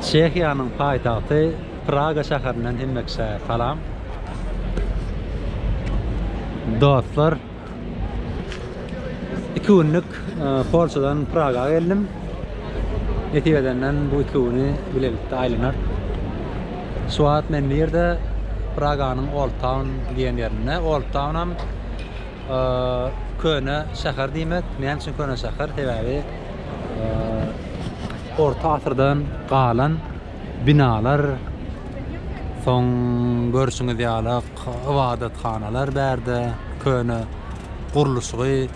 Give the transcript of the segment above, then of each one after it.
Çehiýanyň paýtagty Praga şäherinden hemmekiçe salam. Dostlar, iki günlük e, Polşadan Praga geldim. Nesip edenden bu iki güni bilelikde aýlanar. Şu wagt men bu ýerde Praganyň Old Town diýen ýerinde. Old Town hem e, köne şäher diýmek. Näme üçin köne şäher? Sebäbi Orta asyrdan galan binalar, soň görşüňiz ýaly ybadathanalar bärde, köne gurluşygy,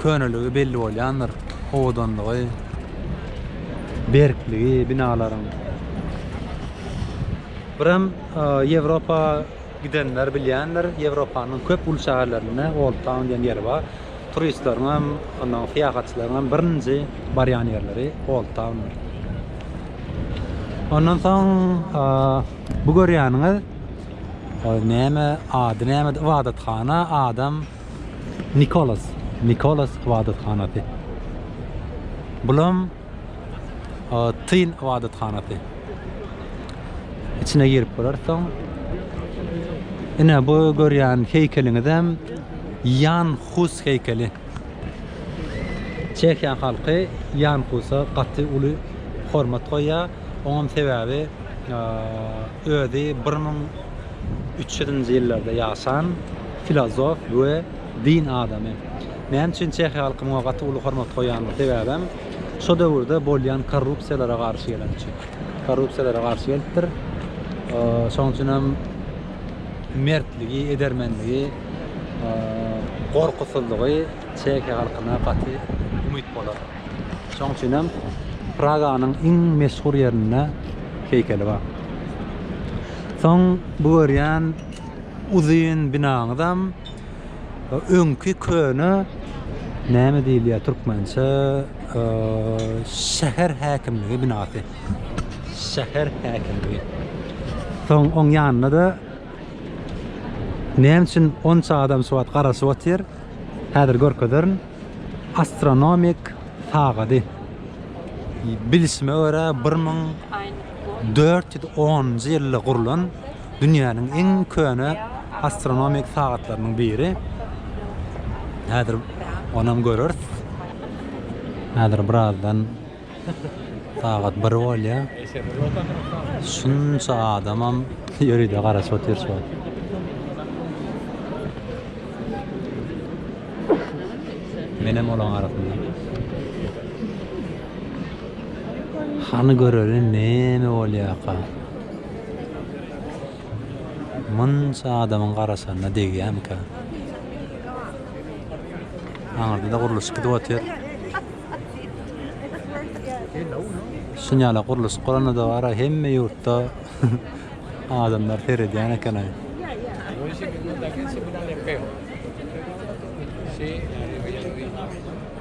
köneligi belli bolýandyr, owadanlygy, berkligi binalaryň. Birem Ýewropa Gidenler bilýändir, Ýewropanyň köp uly şäherlerinde Old Town diýen ýer bar. Turistleriň hem, onnoň syýahatçylaryň hem birinji barýan ýerleri Old Towndyr. Ondan soň bu görýäniňiz näme, ady nämedi, ybadathana, adam Nikolas, Nikolas ybadathanasy. Bulam Tyn ybadathanasy. İçine girip görersen. Ine bu görýän heýkeliňizem Ýan Hus heýkeli. Çehiýa halky Ýan Husa gaty uly hormat goýýar. Oňam sebäbi özi 1300-nji ýyllarda ýaşan filozof we din adamy. Näme üçin çehiýa halky muňa gaty uly hormat goýýandyr? Sebäbem şo döwürde bolýan korrupsiýalara garşy geleni üçin. Korrupsiýalara garşy gelipdir. Şonuň üçin hem mertligi, edermenligi, gorkusyzlygy çehiýa halkyna gaty umyt bolar. Şonuň üçin hem Praganyň iň meşhur ýerinde heýkeli bar. Soň bu görýän uzyn binaňyzam Öňki köne näme diýilýär türkmençe şäher häkimligi binasy. Şäher häkimligi. Soň oň ýanynda-da näme üçin onça adam şu wagt garaşyp otyr? Häzir görkezerin. Astronomik sagady. Bilişime görä 1410-njy ýylda gurlan. Dünýäniň iň köne astronomik sagatlarynyň biri. Häzir onam göreris. Häzir birazdan sagat bir bolýar. Şunça adamam ýöride garaşyp otyr şu wagt. Menem olaň arasynda. Hany göreli neme bolýarka. Munça adamyň garaşanyna degýämika. Aňyrda-da gurluşyk gidip otyr. Şuny ýala gurluşyk guranda-da bar-a, hemme ýurtda adamlar seredýän eken-aý. Şey,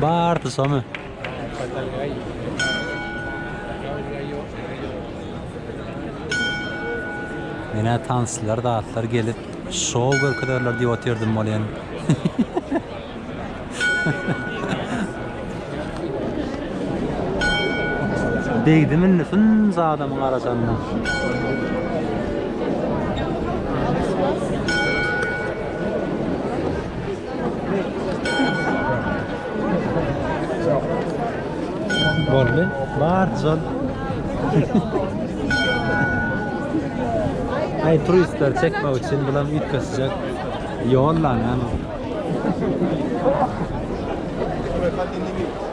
Barty somy. Menä tanslar, datlar gelip, şou görkezerler diýip otyrdim bolýan. Degdim indi fynns adamyň arasanyna. Boldy. Bar zol. Ay turistler çekmek üçin bulam üýtgesijek. Ýol lan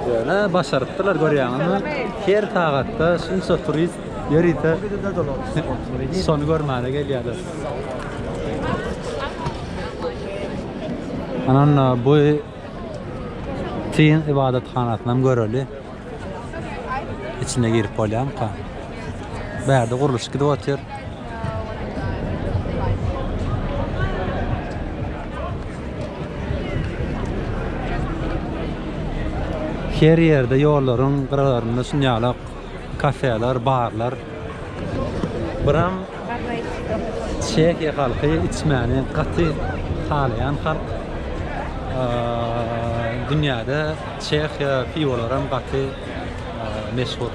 Ýöne başarypdylar görýäňizmi? Her sagatda şunça turist ýörite şony görmäne gelýärler. Ynha, bu Çyn ybadathanasynam göreli. İçine girip bolýarmyka? Bärde gurluşyk gidip otyr. Her ýerde ýollaryň gyralarynda şunýalak kafeler, barlar. Buram Çehiýa halky içmäni gaty halaýan halk. Dünýäde Çehiýa piwolary hem gaty meşhur.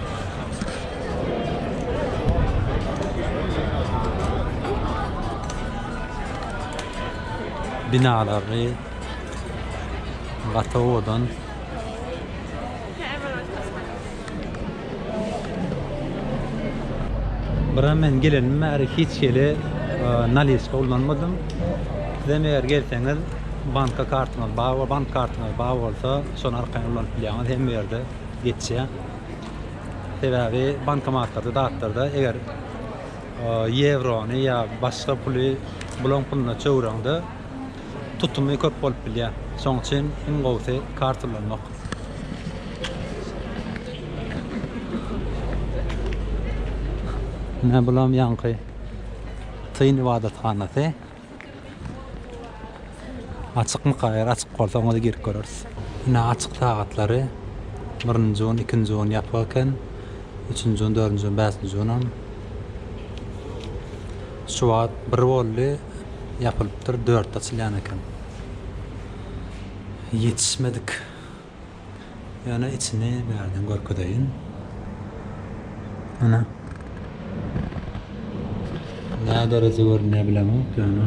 Binalary gaty owadan. Bura men gelenimden bäri hiç hili nalýeçka ulanmadym. Sizem eger gelseňiz, banka kartyňyz bar bolsa, bank kartyňyz bar bolsa, şony arkaýyn ulanyp bilýäňiz, hemme ýerde geçýär. Sebäbi bankomatlarda, zatlarda eger ýewrony ýa başga puly bulaň puluna çöwüreňde, Tutumy köp bolup bilýär. Şoň üçin iň gowusy kart ulanmak. Ine bulam ýaňky Syn ybadathanasy. Açykmyka? Eger açyk bolsa oňa-da girip göreris. Ine açyk sagatlary. Birinji gün, ikinji gün ýapyk eken. Üçünji gün, dördünji gün, bäşinji günam. Şu wagt bir boldy ýapylypdyr dörtde açylýan eken. Ýetişmedik. Ýöne içini bärden görkezeýin. Ana. Nä derejä görünýär bilemok ýöne.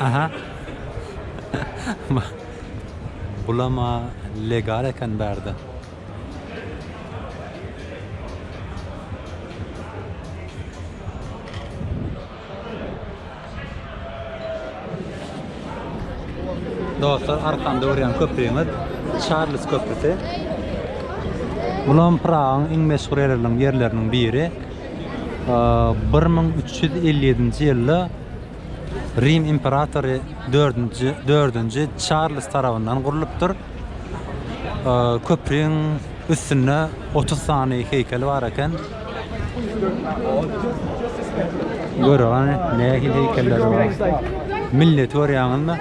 Aha. Bulama legal eken bärde. Dostlar, arkamda görýän köprümiz Çarlz köprüsi. Bulam Pragyň iň meşhur ýerleriniň biri. Bir müň üç ýüz elli ýedinji ýylda Rim imperatory dördünji dördünji Çarlz tarapyndan gurlupdyr. Köprüň üstünde otuz sany heýkel bar eken. Görüň, hany, nähili heýkeller bar. Milleti görýäňizmi?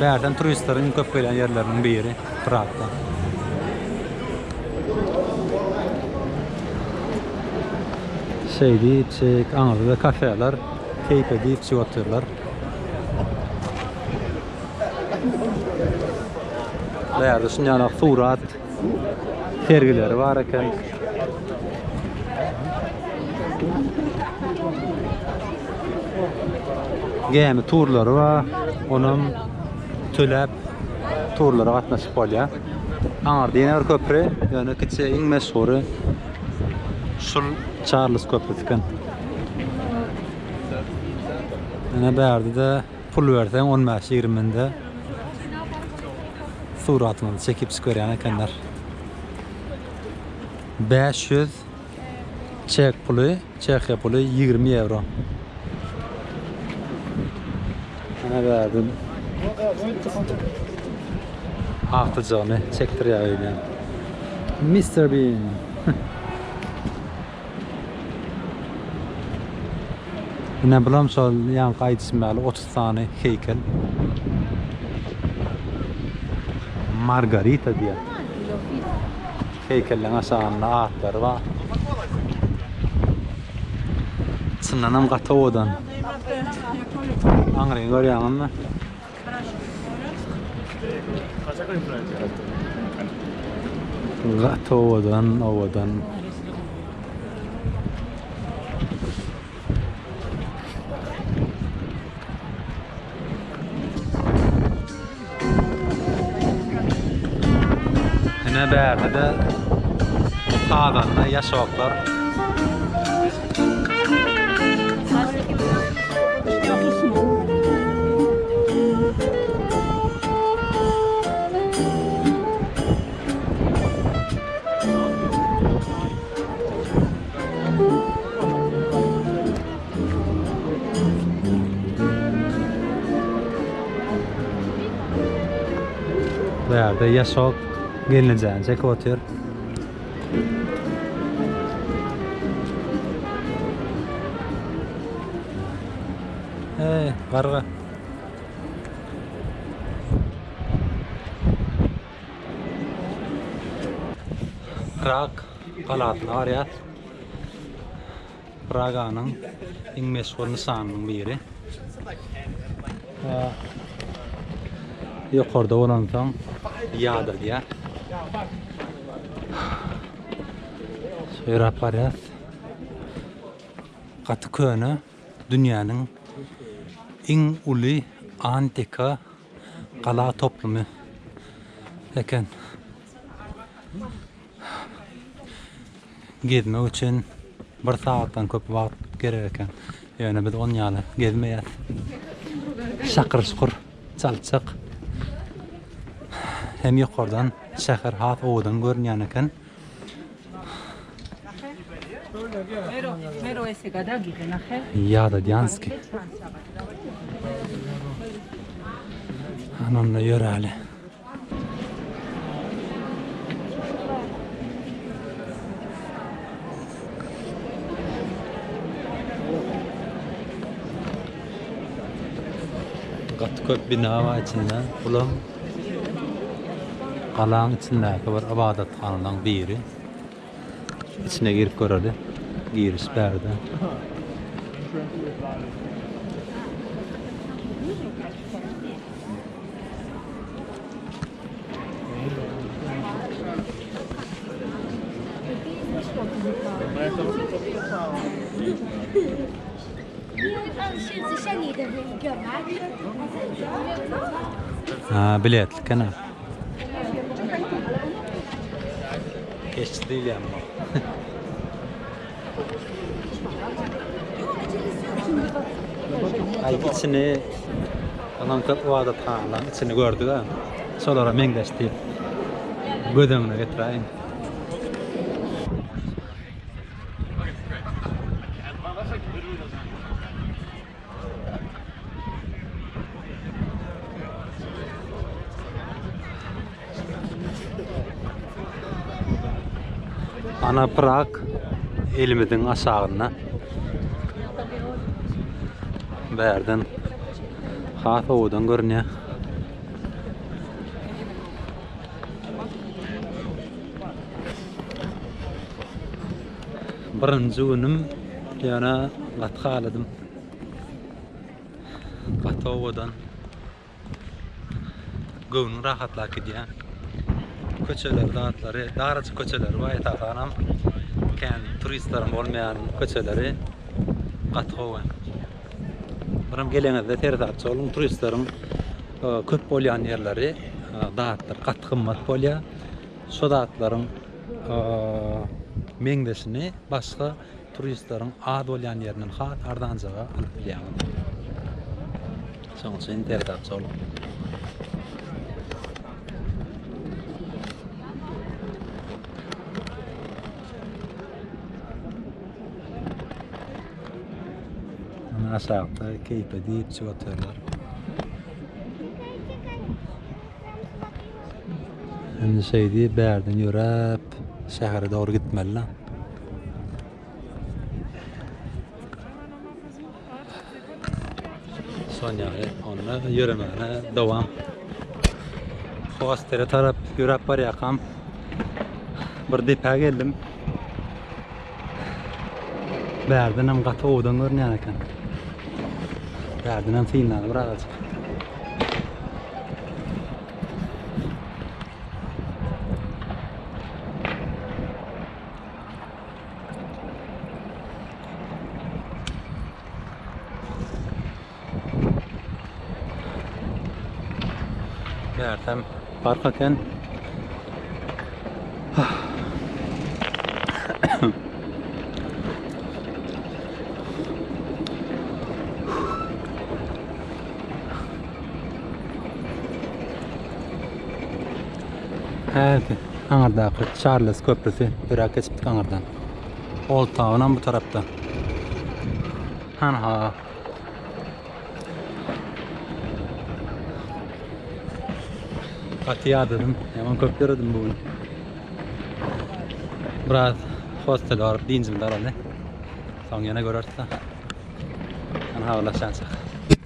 Bärden turistleriň köp gelýän ýerleriniň biri Pragda. Şeýdi içjek aňyrda da kafeler keýp edip içip otyrlar. Bu ýerde şuny ýaly surat sergileri bar eken. Gämi turlary bar. Onam töläp turlara gatnaşyp bolýar. Aňyrda ýene bir köpri, ýöne kiçi iň meşhury şul Çarlz köprüsi eken. Ýöne bärde-de pul berseň 15-20 minde suratyňyzy çekip çykyberýän ekenler. 500 Çek puly, Çehiýa puly ýigrimi ýewro. Ana bärden akyljygyny çekdirýär öýle. Mister Bean. Ine bulam şol ýaňky aýdyşym ýaly 30 sany heýkel. Margarita diýýär. Heýkelleň aşagynda atlary bar. Çyndanam gaty owadan. Aňryny görýäňizmi? Gaty owadan, owadan. Ine bärde-de sazanda ýaşoklar. Bu ýerde ýaşok gelnejäni çekip otyr. Eee, garga. Rak. galasyna barýar. Praganyň iň meşhur nyşanynyň biri. Ýokarda bolansoň ýadyr diýär. Ýöräp barýas. Gaty köne dünýäniň iň uly antika gala toplumy eken. Gezmek üçin bir sagatdan köp wagt gerek eken. Ýöne biz on ýaly gezmeýäs. Şakyr şukur çaltjak. Hem ýokardan şäher has owadan görünýän eken. Ýada Dýanski. Anonda ýöräli. Gaty köp bina bar içinde. Bulam galaň içindäki bir ybadathanalaryň biri. İçine girip göreli. Giriş bärde. Ha biletli kena. Eşit diýilýän bu. Aýt içini Alan köp ibadathanaň içini gördük-ä. Şolara meňzeş diýip göz öňüne getiräýin. Ana Prag elimiziň aşagynda. Bärden has owadan görünýär. Birinji günüm ýöne gaty haladym. Gaty owadan. Göwnüň rahatlap gidýär. Köçelerde atlary, darajyk köçeleri bar esasanam. Kän turistleriň bolmaýan köçeleri gaty gowy. Birim geleňizde seresapçy boluň, turistleriň köp bolýan ýerleri zatlar gaty gymmat bolýar. Şo zatlaryň meňzeşini başga turistleriň az bolýan ýerinden has arzanjaga alyp bilýäňiz. Şoň üçin tertapçy boluň. Aşakda keýpe diýip içip oturýarlar. Indi şeýdi bärden ýöräp şähere dogry gitmeli. Sonya onda ýöremegine dowam. Hostere tarap ýöräp barýakam bir depä geldim. Bärden hem gaty owadan görünýän eken. Bärden hem synlany bir agajyk. Mersem park eken. Häzir aňardaky Charles köprüsi biraz geçipdik aňardan. Old Town bu tarafta. Hanha Gaty ýadadym. Ýaman köp ýöredim bu gün. Biraz hostele baryp diňjimde alany. Soň ýene göreris-de. Ýene habarlaşýançak.